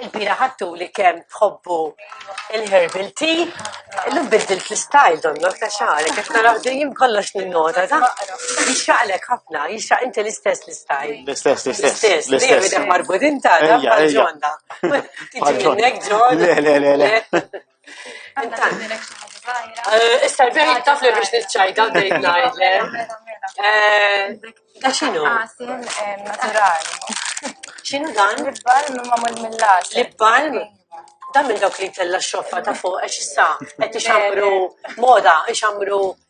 Il-bira ħadtu li kemm tħobbu il-herbal tea, illum biddilt l-istyle donnok ta' xagħrek, qed naraw dejjem kollox ninnota ta' jixraqlek ħafna, jixraq inti l-istess l-istyle. L-istess, l-istess. Dejjem idek marbudin ta' ġonda. Tiġi minnek ġon. Le, le, le. Eh, issa l-bejn taf li biex nitċajda bejn najlem. Da xinu? Naturali. Xinu dan? Lip-balm mamul mill-las. Lip-balm? Dan minn dawk li tella xoffa ta' fuq, għax issa, għet ixamru moda, ixamru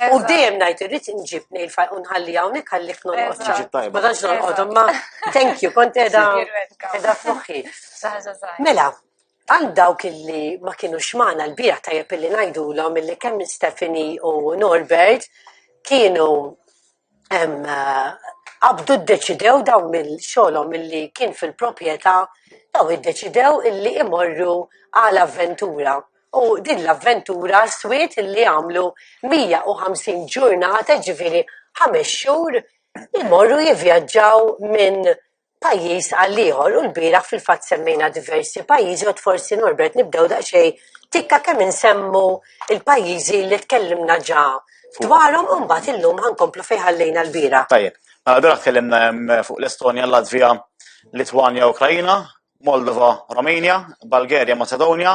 U dejjem ngħid irrid inġib nejl fajn u nħalli hawnhekk għalik norqod. Tiġi tajba. Ma tantx norqod imma thank you kont qiegħda qiegħda f'moħħi. Mela, għal dawk illi ma kinux magħna l-biegħ tajjeb illi ngħidulhom illi kemm Stephanie u Norbert kienu qabdu ddeċidew dawn minn xogħolhom milli kien fil-proprjetà dawn iddeċidew illi imorru għal avventura u din l-avventura swiet illi għamlu 150 ġurnata ġifieri ħames xhur imorru jivvjaġġaw minn pajjiż għal ieħor u lbieraħ fil-fatt semmejna diversi pajjiżi għad forsi Norbert nibdew daqsxejn tikka kemm insemmu l-pajjiżi li tkellimna ġa dwarhom u mbagħad illum ħa nkomplu fejn ħallejna lbieraħ. Tajjeb. Mela bieraħ tkellimna hemm fuq l-Estonja, Latvija, Litwanja, Ukraina, Moldova, Romania, Bulgaria, Macedonia,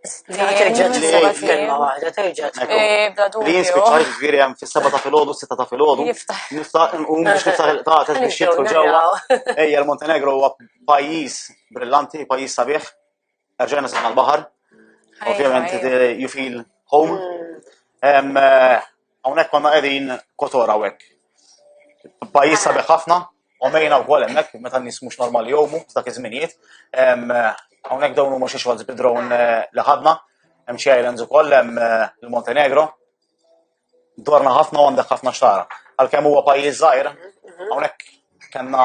Terġaġ li f'kelma waħda, terġaġ. Li jien spiċċajt ġviri hemm fis-seba ta' filgħodu, s-sitta ta' filgħodu. Nista' nqum biex niftaħ il-qtates biex jidħlu ġewwa. Ejja, l-Montenegro huwa pajjiż brillanti, pajjiż sabiħ. Erġajna sibna l-baħar. Ovvjament, you feel home. Mm. Eh, Hawnhekk konna qegħdin kotor hawnhekk. Pajjiż sabiħ ħafna, u mejna wkoll hemmhekk meta n-nies mhux normali jomu dak iż-żminijiet. Hawnhekk dawn huma xi xogħol bid-drone eh, li ħadna, hemm xi islands ukoll hemm eh, il-Montenegro. Dorna ħafna u għandek ħafna xtara. Għalkemm huwa pajjiż żgħir, hawnhekk kellna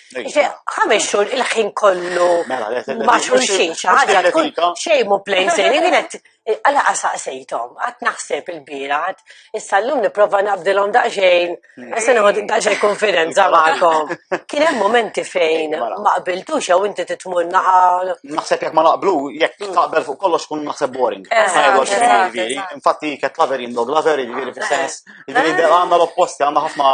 ħames xhur il-ħin kollu mela, ma' xulxin xi ħaġa tkun xejn mu plejn sejri wienet għala qasaqsejthom qatt naħseb il-birat issa llum nipprova nabdilhom daqsxejn hmm. issa nieħu daqsxejn konfidenza magħkom. Kien hemm momenti fejn mela. ma qbiltux jew inti titmur naħal. Naħseb jekk ma naqblu jekk hmm. taqbel fuq kollox kun naħseb boring. Infatti kett laveri jimdog laveri jiġifieri fis-sens. Jiġifieri għandna l-opposti għandna ħafna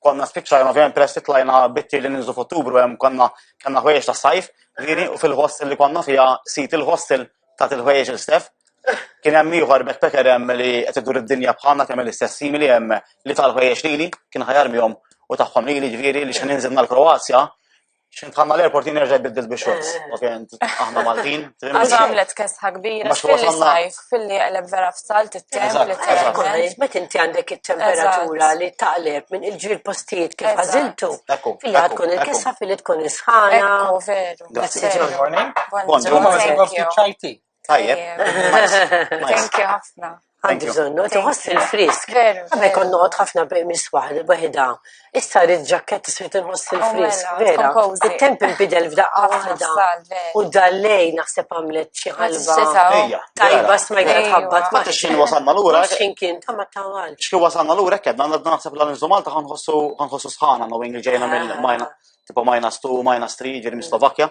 konna spiċċajna ovvjament peress titlajna bitti li ninżu f'Ottubru hemm konna kellna ħwejjeġ ta' sajf, viri u fil-hostel li konna fiha sit il-hostel ta' il-ħwejjeġ il-stef. Kien hemm ieħor backpacker hemm li qed idur id-dinja bħalna kemm l-istess simili hemm li tal-ħwejjeġ lili kien ħajar mihom u tagħhom lili ġifieri li xi ninżilna l-Kroazja Xint ħamma l-airport jien nerġa' jbiddil bi xorts. Ok, aħna Maltin. Għax għamlet kesta kbira, xilli sajf, filli jaqleb vera f'sal, t-temp, li t-temp. Met inti għandek il-temperatura li taqleb minn il-ġir postijiet kif għaziltu. Filli għatkun il-kessa, filli tkun isħana. Veru. Grazie. Buongiorno. Buongiorno. Tajjeb. Thank you ħafna. Għandi bżonnu, tħoss il-frisk. Għabbe kon noqgħod ħafna mis waħda waħda. Issa rrid ġakket iswed inħoss il-frisk. Oh, vera. Il-temp inbidel f'daqqa waħda. U dallej naħseb għamlet xi ħalba. Tajba smajta tħabbat. Ma x'in wasalna lura. X'in kien ta' ma tawal. X'kien wasalna lura kedna għandna naħseb l nżu Malta ħanħossu ħanħossu sħana no wing ġejna mill-majna. Tipo minus 2, minus 3, ġeri Slovakkja.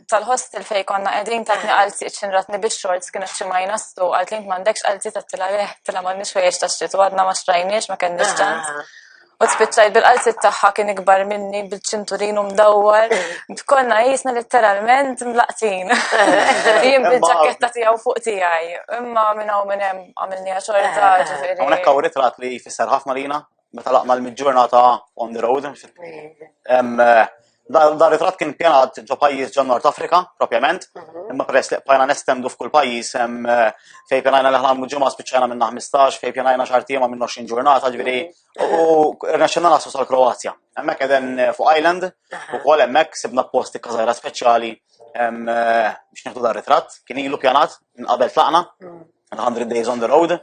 tal-hostel fej konna qegħdin tatni għal siq xinratni biex xorts kienu xi ma jnastu għalt lint m'għandekx għal tita tila leh tila m'għandniex ħwejjeġ tax-xitu għadna ma xtrajniex ma kenniex ċans. Ah. U spiċċajt bil-qalsit tagħha kien ikbar minni bil-ċinturin u mdawwar. Konna jisna letteralment mlaqtin. Jien bil-ġaketta tiegħu fuq tiegħi. Imma minn hawn minn hemm għamilni xorta ah. ġifieri. Hawnhekk hawn ritrat li jfisser ħafna lina meta laqna l-mid-ġurnata on the road. Eh, Dar ritrat kien pjanat ġo pajjiż ġo Nord Afrika, propjament, mhm. imma peress li qbajna nestendu f'kull pajjiż eh, fej pjanajna li ħlamu ġimgħa spiċċajna minna 15, fej pjanajna xar tiema minn 20 ġurnata, ġifieri mhm. u rnexxinna nasu sal-Kroazja. Hemmhekk qegħden eh, fuq Island, mhm. ukoll hemmhekk sibna posti kazajra speċjali biex nieħdu dar ritrat, kien ilu pjanat minn qabel tlaqna, 100 days on the road.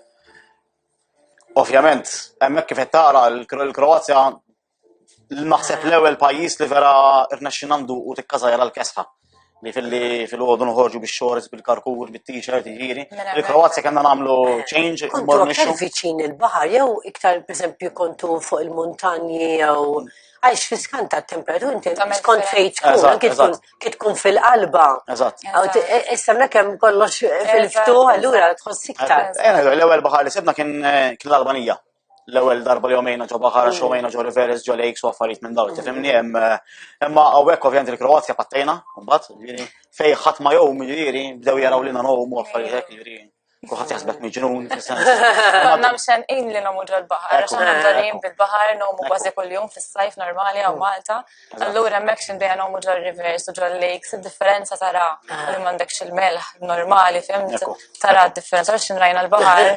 Ovvjament, hemmhekk kif qed tara l-Kroazja naħseb l-ewwel pajjiż li vera rnexxi nandu u tikkazajra l-kesħa li filli fil-għodu nħorġu biex xorz bil-karkur, bil-t-shirt, ġiri. Mela, Il-Kroazja mela. kena namlu change, morru nixxu. viċin il-bahar, jew iktar, per esempio, kontu fuq il-montanji, jew għax fiskanta temperatur, inti skont fejt tkun, tkun fil-qalba. Eżatt. Issa mnek hemm kollox fil-ftuħ, allura tħoss iktar. L-ewwel baħar li sibna kien eh, kien l-Albanija. L-ewwel darba li jomejna ġo baħar, mm. xomejna ġo Riveres, ġo Lakes u affarijiet minn dawn, tifhimni mm. hemm. Eh, imma hawnhekk ovvjament il-Kroazja pattejna, mbagħad, jiġifieri, fej ħadd ma jom, jiġifieri, bdew jaraw lina nogħom u affarijiet hekk, jiġifieri. Kuħat jaħsbek miġnun. Għanna mxen in li nomu ġol bahar għax għanna ġolim bil-bahar, nomu bazi kull-jum fil-sajf normali għaw mm. Malta. Allura mek xindeja nomu ġol rivers u ġol lakes, differenza tara ah. li mandek xil-melħ normali, fim, tara differenza għax xinrajna l-bahar,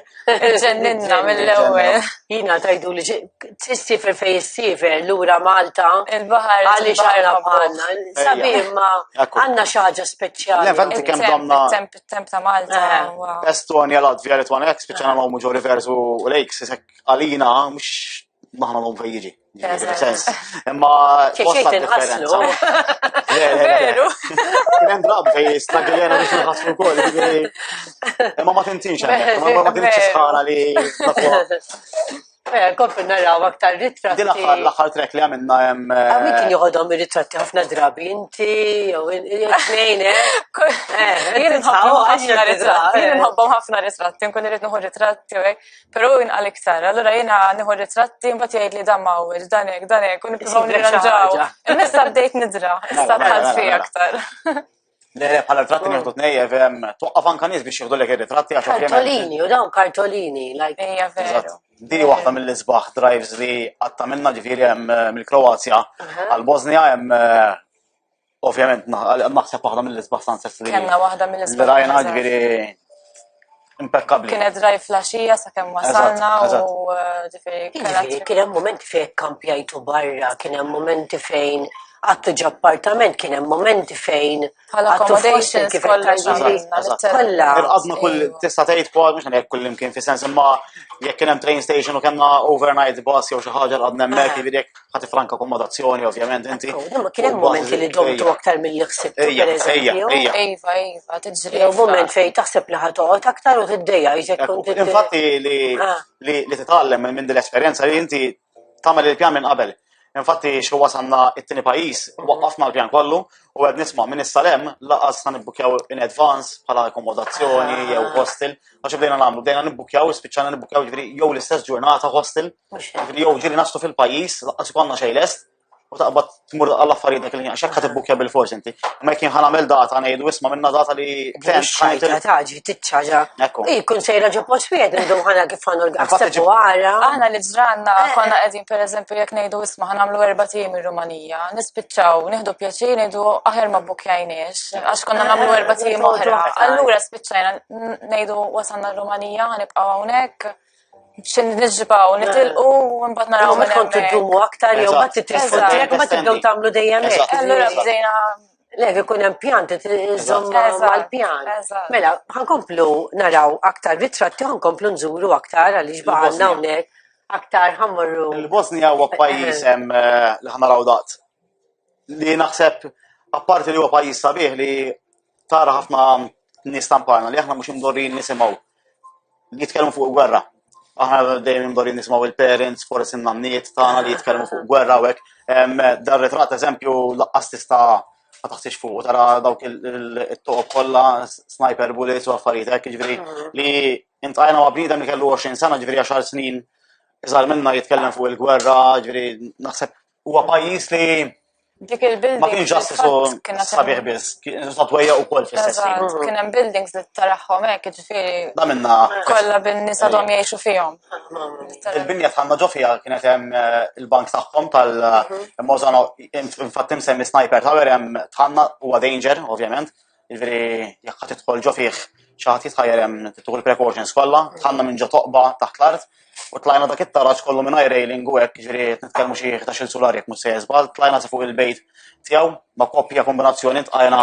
ġenninna mill-ewel. Jina tajdu li t-sifer fej s-sifer l-ura Malta. Il-bahar. Għalli xarra bħanna. Sabir ma għanna xaġa speċjali. Levanti kem domna. Temp temp ta' Malta. Eh, Estonia, Latvia, Litwana, jek spiċana ma' muġo rivers u lakes, jisek għalina, mux maħna l-om fejġi. Sens. Imma. Xiex inħaslu. Veru. Kien drab fej stagiljena biex nħaslu kol. Imma ma tintinx għandek, ma tintinx sħana li. Eh, Kompri naraw aktar ritratti. Din l-axar, l-axar trek li għamilna jem. Għamil eh, kien joħodhom ritratti ħafna drabi, inti, jew jtnejn, eh? eh jien nħobbhom ħafna ritratti, jien nħobbhom ħafna ritratti, nkun irrid nħu ritratti, pero jien għal iktar, allura jien nħu ritratti, mbat jgħid li dan mawel, dan ek, dan ek, kun nipprovaw nirranġaw. Nista bdejt nidra, issa tħalt fi aktar. Le, le, bħala ritratti oh. nieħdu tnej, evem, toqqaf anka nies biex jieħdu lek ir-ritratti għax Kartolini, u dawn kartolini, like. Ejja, veru. Diri waħda mill-isbaħ drives li għatta minna ġifiri jem eh, mill-Kroazja għal-Bosnia jem eh, ovvjament naħseb waħda mill-isbaħ sunsets li. Kenna waħda mill-isbaħ. Rajna ġifiri Impeccabli. Kienet dry flasġija sa' kem wasalna u ġifiri. Ġifiri, kienem moment fejn kampjajtu barra, kienem moment fejn għattu ġappartament, kienem moment fejn. Għalla accommodation kolla kolla. Għadna kull tista tgħid kwa mhux hekk kull imkien fi sens imma jekk kien hemm train station u kellna overnight bus jew xi ħaġa għadna hemmhekk jiġifieri jekk ħati franka akkomodazzjoni, ovvjament, inti. Imma kien hemm momenti li domtu aktar mill-li ħsibt. Ejja, ejja, ejja. Ejva, ejva, tiġri. Jew moment fejn taħseb li ħatoqgħod aktar u tiddejja jżek kont. Infatti li ah. li titgħallem minn din l-esperjenza li inti tagħmel il-pjan minn qabel. Infatti xi wasanna it-tieni pajjiż, mhm. waqqafna l-pjan kollu u qed nisma' minn is-salem laqas sa nibbukjaw in advance bħala akkomodazzjoni ah. jew hostel. Għax bdejna nagħmlu, bdejna nibbukjaw, spiċċana nibbukjaw jiġri jew l-istess ġurnata hostel Mhux jiġri jew ġieli naslu fil-pajjiż, laqqas ikollna xejn lest, u taqbad tmur għal affarijiet dak il-ħin, x'hekk ħad bil-fors inti. Imma jekk ħan għamel data ngħidu isma' minna data li tent taġi titċaġa. Jkun sejra ġo post wieħed indum ħana kif ħanu l-għassebu għara. Aħna li ġranna eh, eh. konna qegħdin pereżempju jekk ngħidu isma' ħan għamlu erba' tim ir-Rumanija, nispiċċaw nieħdu pjaċir ngħidu aħjar ma bukjajniex għax konna nagħmlu eh, erba' tim oħra. Allura spiċċajna ngħidu wasanna r-Rumanija ħanibqgħu hawnhekk. xi nixbaw, nitilqu u mbagħad naraw minn hekk. tiddumu aktar jew ma titilqu direkt ma tibdew tagħmlu dejjem hekk. Allura bdejna Lek ikun hemm pjan tiżomm mal-pjan. Mela, ħankomplu naraw aktar ritratti ħankomplu nżuru aktar għaliex baqgħna hawnhekk aktar ħammorru. Il-Bosnija huwa pajjiż hemm li ħanaraw daqt li naħseb apparti li huwa pajjiż sabiħ li tara ħafna nies tamparna li aħna mhux imdorrin nisimgħu li jitkellmu fuq gwerra. Aħna dejjem imdorrin nisimgħu il-parents, forsi n-nanniet tagħna li jitkellmu fuq gwerra u hekk. Dar ritrat eżempju laqqas tista' ma taħsix fuq tara dawk il-toqob kollha sniper bullets u affarijiet hekk ġifieri li intajna ma' bniedem li kellu 20 sena ġifieri 10 snin iżgħar minna jitkellem fuq il-gwerra ġifieri naħseb Huwa pajjiż li Dik il-building. Ma kienx ġast isu sabiħ biss, kienu satwejja u kol fil-sessi. Mhm. Kien hemm buildings li taraħħom hekk, ġifieri. Da minna. Kollha bin-nisa dom jgħixu fihom. Il-binja tħanna ġo fiha kienet hemm eh, il-bank tagħhom tal-Mozano, mhm. eh, infatti msemmi sniper tower hemm tħanna huwa danger, ovvjament, Ġifieri jekk ħadd tidħol ġo fih xi ħadd jitħajjar hemm tieħu l-precautions kollha, tħanna minn ġo toqba taħt l-art u tlajna dak it-taraġ kollu minn railing u hekk ġifieri nitkellmu xi 11 sular jekk mhux se żball, tlajna sa fuq il-bejt tiegħu ma' koppja kombinazzjoni tqajna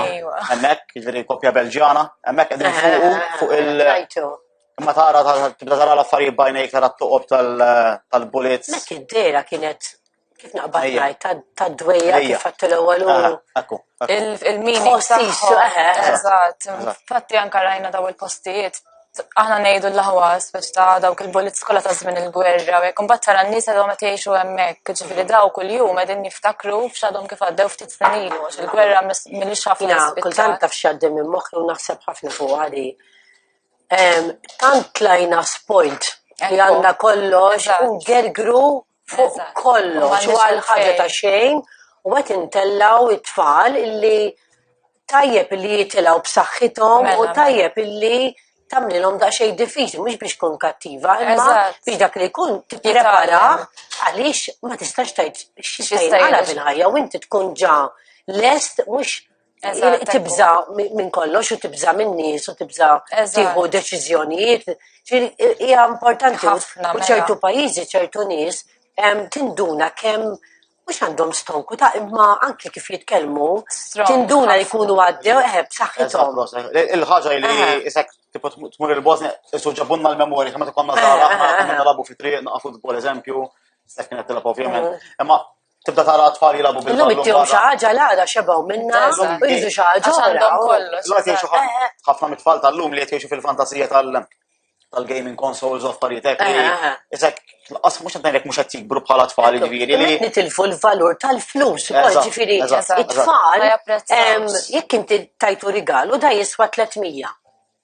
hemmhekk, ġifieri koppja Belġjana, hemmhekk qegħdin fuqu fuq il- Imma tara tibda tara l-affarijiet bajnejk tara t-toqob tal-bullets. Mek id-dera kienet Kif naqbad Ejja. ngħid ta- tad-dwejja Ejja. kif għattu l-ewwel u Ah, Akku, akku. il- il-meaning Postiċ, tagħhom. eħe, eħe. Eżatt. Eżatt. Infatti anke rajna daw il-postijiet. Aħna ngħidu l-aħwa speċ ta' dawk il-bullets kollha ta' żmien il-gwerra. u Jekk imbagħad tara n-nies għadhom qed jgħixu hemmhekk. Ġifieri daw kuljum qegħdin jiftakru f'x'għadhom kif għaddew ftit snin ilu għax il-gwerra mis- milli xafna Jina, kultant l-ispittal. taf xaddim minn moħħi u naħseb ħafna fuq għadi. Em, Tant tlajna spoilt li Ekku. għanna kollox Eżatt. u gergru fuq kollox u għal ħaġa ta' xejn u qed intellgħu t-tfal illi tajjeb illi jitilgħu b'saħħithom u mela, mela. tajjeb illi tamlilhom daqsxejn diffiċli mhux biex tkun kattiva, imma biex dak li jkun tipprepara għaliex ma tistax tgħid x'jista' jinqala fil-ħajja u inti tkun ġa lest mhux tibza minn kollox u tibza minn nies u tibza tieħu deċiżjonijiet. Hija importanti ħafna. U mela. ċertu pajjiżi, ċertu nies, tinduna kemm mux għandhom stonku ta' imma anki kif jitkellmu, tinduna li kunu għaddew eħeb saħħithom. Il-ħagġa li jisek tipo tmur il-Bosnia, isu ġabunna l-memori, kama t-konna zaħra, konna narabu fi triq, naqa futbol eżempju, s-seknet t-telep ovvijament. Imma tibda tara tfal jilabu bil Illum ittihom xi ħaġa l-għada xebgħu minna, irridu xi ħaġa oħra. Ħafna mit-tfal tal-lum li qed jgħixu fil-fantasija tal-gaming consoles of paritek li eh, eh, eh. isek laqas mhux qed ngħidlek mhux qed jikbru bħala tfal ġifieri li nitilfu l-valur tal-flus ukoll ġifieri it-tfal jekk inti tajtu rigal u da jiswa 300.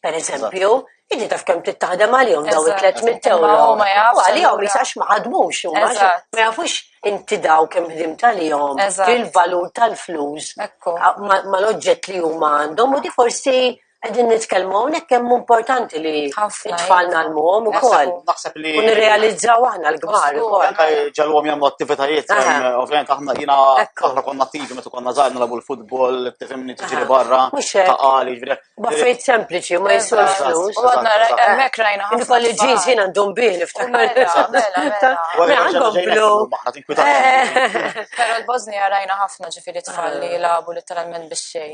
per eżempju, inti taf kemm trid taħdem għalihom daw it-300 euro. Huma jafu. Għalihom jisax ma ħadmux, huma ma jafux inti daw kemm ħdim tal-jom, il-valur tal-flus, ma l-oġġett li huma għandhom, u di forsi għedin nitkelmu għonek kemm importanti li tfalna l-mum u kol. Naħseb li. U nirrealizzaw għahna l-gbar. Ġallu għom jamlu attivitajiet, ovvijament aħna jina aħna konna attivi, metu konna zaħna labu l-futbol, t-femni t-ġiri barra, ta' għali, ġviri. Baffejt sempliċi, ma jiswewx flus. U għadna hemmhekk rajna ħafna. Kolli ġins jien għandhom bih niftakar. Mela għandhom blu. Però l-Bosnija rajna ħafna ġifieri tfal li jilagħbu letteralment bix-xej.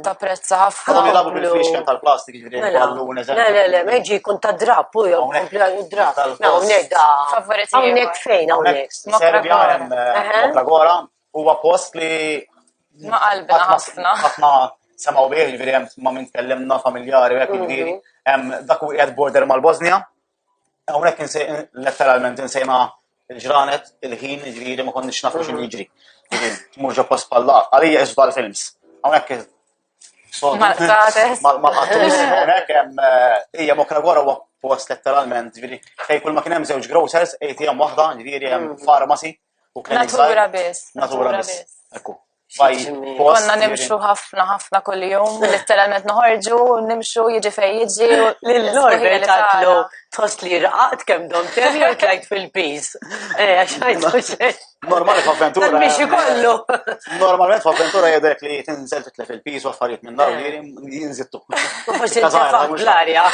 Ta' prezza ħafna. Għandhom jilagħbu bil-fixken tal-plastik ġifieri mela. ballun eżempju. Le le le, ma jiġi jkun ta' drab u jew kompli għal drab. Hawnhekk da. Hawnhekk fejn hawnhekk. Serbja hemm Mokra Gora. huwa post li ma qalbna ħafna. Ħafna semaw bih, ġifieri hemm ma min tkellimna familjari hekk ġifieri. Hemm dak u qiegħed border mal-Bosnia. Hawnhekk letteralment insejna l-ġranet, il-ħin, ġifieri ma konniex nafu x'inhu jiġri. Tmur ġo post bħal laf. Għalija isbal films. Hawnhekk Mal-qatus, hawnhekk hemm hija mokra gora huwa post letteralment, ġifieri fejn kull ma kien hemm żewġ grocers, ATM waħda, ġifieri hemm farmasi. U kien Natura biss. Natura biss. Ekku. Konna nimxu ħafna ħafna kull jum, letteralment noħorġu, nimxu jiġi fej jiġi. L-Norbert tatlu tħoss li raqat kem dom terri u tlajt fil-piz. Eh, Normali f'avventura. Biex ikollu. Normalment f'avventura jedek li tinżel titlef il-piz u affarijiet minn dar li jinżittu. Forsi l-arja.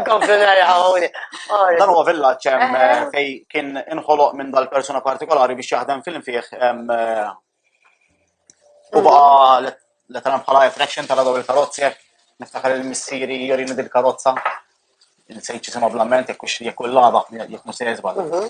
Komplu narrawni. Dan huwa villaġġ hemm eh, eh. fej kien inħoloq minn dal-persuna partikolari biex jaħdem film fih eh, u baqa letteran bħala attraction tal daw il-karozzi jekk niftakar il-missieri jorini dil-karozza il-sejċi sema blament jekk jekk l-laba jekk musejżba. Mhm.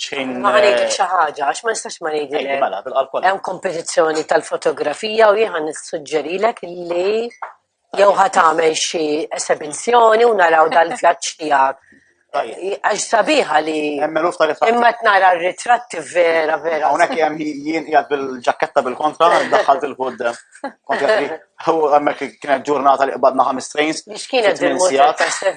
xejn. Ma għanik eh, xaħġa, għax ma nistax ma nejdi. Eh, mela, hemm kompetizzjoni tal-fotografija u jieħan nissuġġerilek li jew ħat għamel xi esebizjoni u naraw dal-vjaġġ tiegħek. Għax sabiħa li. Imma t-nara ritratti vera, vera. Unek jem jien jgħad bil-ġaketta bil-kontra, daħħalt il-kud. Kontra għammek kienet ġurnata li qbadna ħamis trains. Mix kienet bil-ġaketta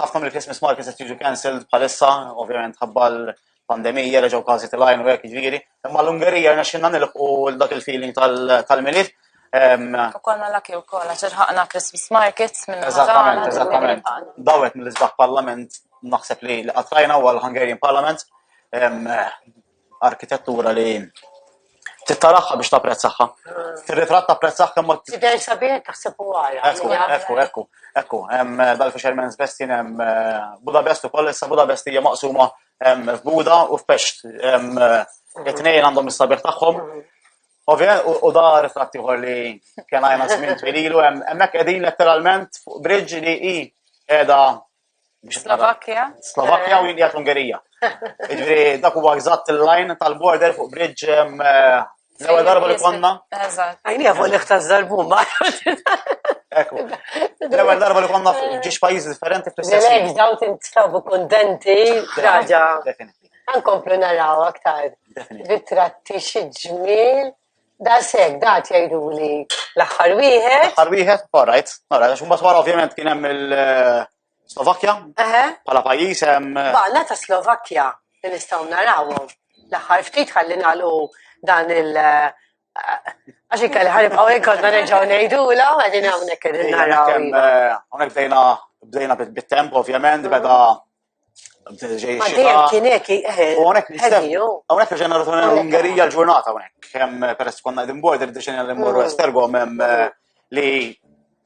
ħafna mill-Christmas markets qed jiġu cancelled bħalissa, ovvjament ħabba l-pandemija, reġgħu każi tal-għajn u hekk jiġifieri. Imma l-Ungerija rnexxinna nilħqu dak il-feeling tal-milied. Ukoll ma laki wkoll għax irħaqna Christmas markets minn Eżattament, eżattament. Dawet mill-isbaħ parlament naħseb li qatrajna u għal Hungarian Parliament. arkitettura li trid taraha biex tapprezzaha. Fir-ritratt tapprezzaha kemm ma Tidher sabiħa taħseb u ara. Ekku, ekku, ekku, ekku. Hemm eh, dal-Fisherman's Bestin hemm eh, Budapest ukoll issa Budapest hija maqsuma hemm f'Buda u f'Pest. Hemm eh, it-tnejn għandhom is-sabiħ tagħhom. Ovvijament, u da ritratt ieħor li kien għajna żmien twililu hemmhekk qegħdin letteralment fuq bridge li hi qiegħda Slovakkja? Slovakkja u jindijat l-Ungerija. Ġviri, dak huwa eżatt il-line tal-border fuq bridge eh, l-ewwel darba li konna. Għajni għafu li ħtaż darbu ma. Ekku. L-ewwel darba li konna ġiex pajjiżi differenti fl-istess. Lejk daw tintrabu kontenti, raġa. Għankomplu naraw aktar. Ritratti xi ġmiel. Da sek, da jgħidu li l-axħar wieħed. L-axħar wieħed, all right, all right, għax mbagħad wara ovvjament kien hemm il-Slovakkja. Eħe. Bħala pajjiż hemm. Eh, Baqna ta' Slovakkja li nistgħu narawhom. L-axħar ftit ħalli nagħlqu dan il- eh, Għax ikkal ħarib għawek kodna neġaw nejdu la, għadin għawnek għadin naraw. Għawnek bdejna bdejna bit-temp, ovvjament, beda ġej xita. Kien hekk, hawnhekk hawnhekk ġejna rotuna l-Ungerija l-ġurnata hawnhekk. Hemm peress konna qegħdin bord irdeċenja li mmorru Estergom hemm li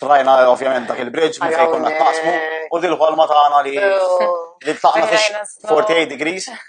trajna ovvjament dak il-bridge minn fejn konna taqsmu u dil-ħolma tagħna li li tlaqna fix 48 degrees.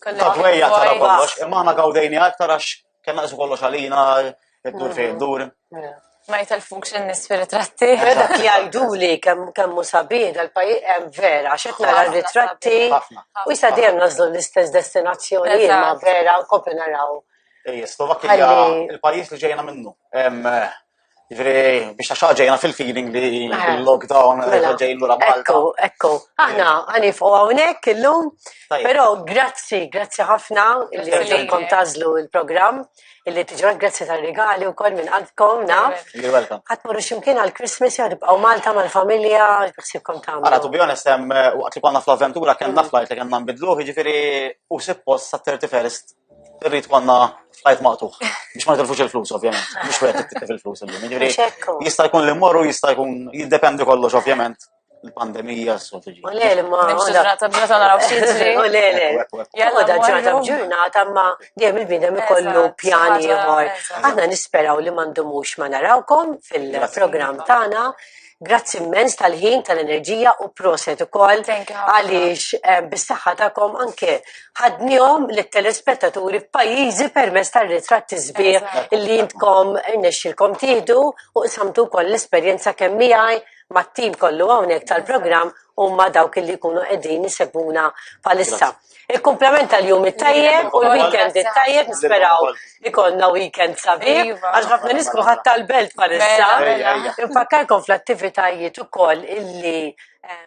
Konna dwejja tara kollox, imma aħna gawdejni aktar għax kellna qismu kollox għalina, id-dur fejn mm. dur. Mm. Ma jitalfux n-nis fil-ritratti. Dak li għajdu li kemmu sabiħ dal-pajis hemm vera, xet nara ritratti u jisa dejjem nażlu l-istess destinazzjoni ma vera u kopri naraw. Ej, Slovakkija il-pajis li ġejna minnu. Ġifri, biex ta' xaġejna fil-feeling li eh. l-lockdown mela. ġejn l-ura Malta. Ekku, ekku. Aħna għanif u għawnek il-lum, pero grazzi, grazzi ħafna li għankom tazlu il-program, illi tiġu grazzi tal-regali u kol minn għadkom, naf. You're welcome. Għatmurru ximkien għal-Christmas jgħadibqaw Malta mal-familja, xsibkom ta' Għara, tu bjon estem, waqt li konna fl-avventura, kien naflajt li kien nambidlu, ġifiri, u sippos sa' 31st Irrid konna f'ħajt maqtuħ. Biex ma nitilfux il-flus, ovvjament. Biex wieħed jittilf il-flus illum. Jiġifieri Mhux hekk hu. jista' jkun li mmorru jista' jkun jiddependi kollox, ovvjament. Il-pandemija, s-soltu ġi. U le, li ma. Nimxu għoda- ġrata b'ġrata naraw xi jiġri. U le, le. Ekku, ekku, ekku. Jalla, Għoda ġrata morru. b'ġurnata ma dejjem il-bidem ikollu Eżatt, pjan ħaġa- ieħor. eżatt. Aħna nisperaw li ma ndumux ma narawkom fil-programm tagħna. Grazzi immens tal-ħin, tal-enerġija u proset ukoll għaliex eh, bis-saħħa tagħkom anke ħadnihom lit-telespettaturi f'pajjiżi permezz tar-ritratti sbieħ li jintkom irnexxilkom tieħdu u qsamtu wkoll l-esperjenza kemm miegħi mat-tim kollu hawnhekk tal-programm u ma dawk li jkunu qegħdin isebuna palissa. Il-kumplament tal-jum it-tajjeb u l-weekend it-tajjeb nisperaw ikollna weekend sabiħ iva. għax ħafna nies kulħadd tal-belt palissa. Infakkarkom fl-attivitajiet ukoll illi eh,